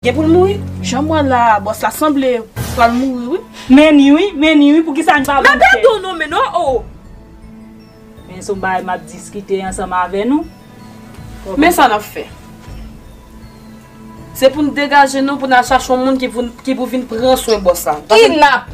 Gen pou l mouri. Janm wè la boss la sanble pral mouri wi. Menni wi menni wi poukisa n pa bann fè. Mèt do nou menn non oo. Men son bagay map diskite ansanm avè nou. Men sa nap fè. Se pou n degaje nou pou n al chache yon moun ki pou vin pran swen boss la. Kidnap!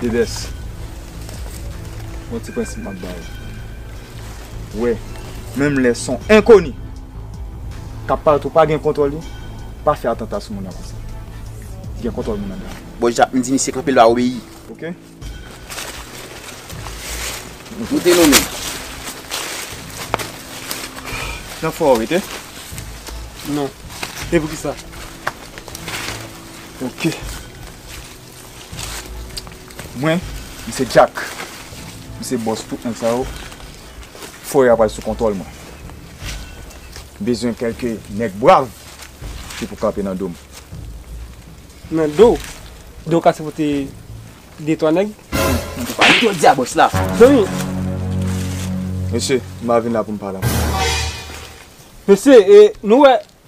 Dedes, yon ti prensip m ap ba ou. Wè, menm lè s on enkoni k ap parèt ou pa gen kontwòl li, pa fè atanta sou moun nan konsa. Gen kontwòl moun anndan. Bòs Jap, m di misye kanpe l va obeyi. Ok. Moute nou menm. Nan fò ou rete? Non. E poukisa? Ok. Mwen m se Jack, m se bòs tout nèg sa yo, forè a pral sou kontwòl mwen. M bezwen kèlke nèg brav ki pou kanpe nan do m. Nan do w? Do w kase pou te de twa nèg? Mwen te pale jodi a bòs la. Zanmi! Mesye, m pa vin la pou m pale avè nou. Mesye, e nou wè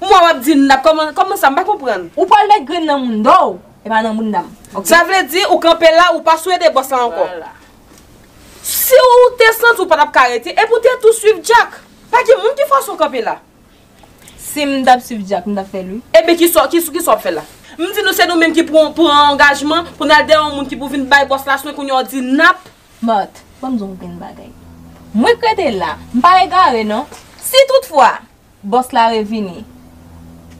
M wè wap di nan kòman kòman sa m pa konprann. Ou pwal met grenn nan mounda w e pa nan mounda m ok. Sa vle di ou kanpe la ou pa sou ede bòs la ankò. Siw te santi ou patap ka rete epi ou te tou swiv Jack. Pa gen moun ki fòse w kanpe la. Sim tap swiv Jack m tap fèl wi. Ebyen kisa kisa wap fè la. M di nou se nou menm ki pran angajman pou nal dèyè yon moun ki pou vin bay bòs la swen kounye a w di nap. Marthe, Fò m di w yon grenn bagay. Mwen k rete la, m pa egare non. Si tout fwa, bòs la revini,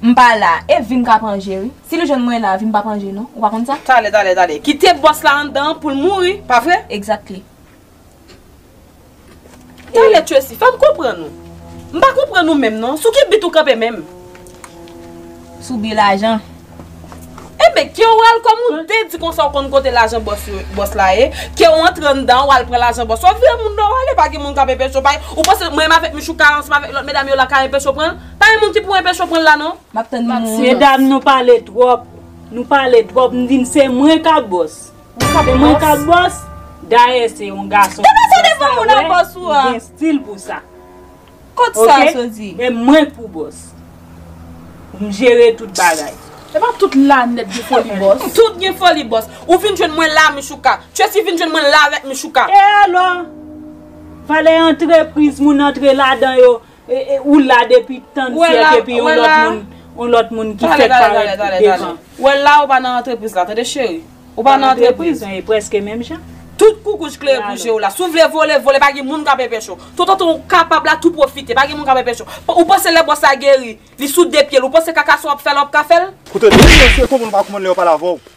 m pa la, e vin k ap ranje wi. Si li jwenn mwen la, vi m p ap ranje non. Ou pa konn sa? Tale, tale, tale. Kite bòs la anndan pou l mouri, pa vre? Exactly. Tale Tracy fem konprann ou. M pa konprann ou menm non, sou ki bit ou kanpe menm? Sou bi lajan. Enben, ke ou al kòm ou te di konsa ou konn kote lajan bòs yo, bòs la ye, ke ou antre anndan ou al pran lajan bòs wap vire moun nan ou ale pa gen moun kap enpeche w pa gen, ou panse mwen m avèk Michou ka ansanm avèk lòt medam yo la ka enpeche w pran l? Pa gen moun ki pou enpeche w pran l la non. Map tann moun. Medam nou pale twòp, nou pale twòp m di n se mwen ka bòs. Mwen ka bòs, dayè se yon gason ki fè sa wè ou gen stil pou sa. E mwen k pou bòs. M jere tout bagay. E pa tout lanèt gen foli bòs. Tout gen foli bòs. Ou vin jwenn mwen la Michouka. Tracy vin jwenn mwen la avèk Michouka. E alò? Valè antrepriz moun antre ladan yo. Ou la depi tan syèk epi yon lòt moun, yon lòt moun ki fèk parèt devan. Tale, tale, tale, tale. Wè la ou pa nan antrepriz la, tande cheri. Ou pa nan antrepriz. Nan antrepriz, e prèske menm jan. Tout koukouj klere pou je ou la. Si ou vle vole, vole, pa gen moun k ap enpeche ou. Tout otan ou kapab la, tou pwofite. Pa gen moun k ap enpeche ou. Ou panse lè bòs la geri, li sou de pye l, ou panse kaka sa w ap fè la w ap ka fè l? Koute byen, mesye, konprann ou pa konprann lè yo pale avè w.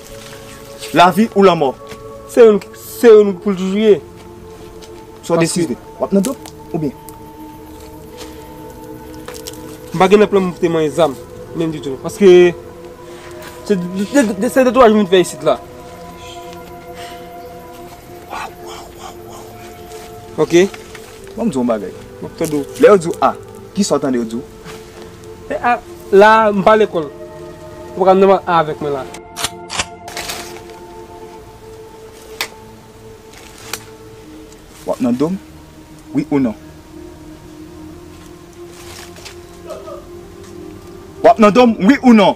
Lavi ou lanmò. Se youn se youn pou l toujou ye. Sa w deside. W ap nan dope oubyen. M pa gen nan plan m te manyen zam menm ditou non. Paske se de twaj m vin fè isit la. Ok. Bon m di w yon bagay. M ap tande w. Lè yo di w A, kisa w tande yo di w? E a la m pa lekòl. Ou paka menm a avèk mwen la. Wap nan dom? Wi ou non? Wap nan dom? Wi ou non?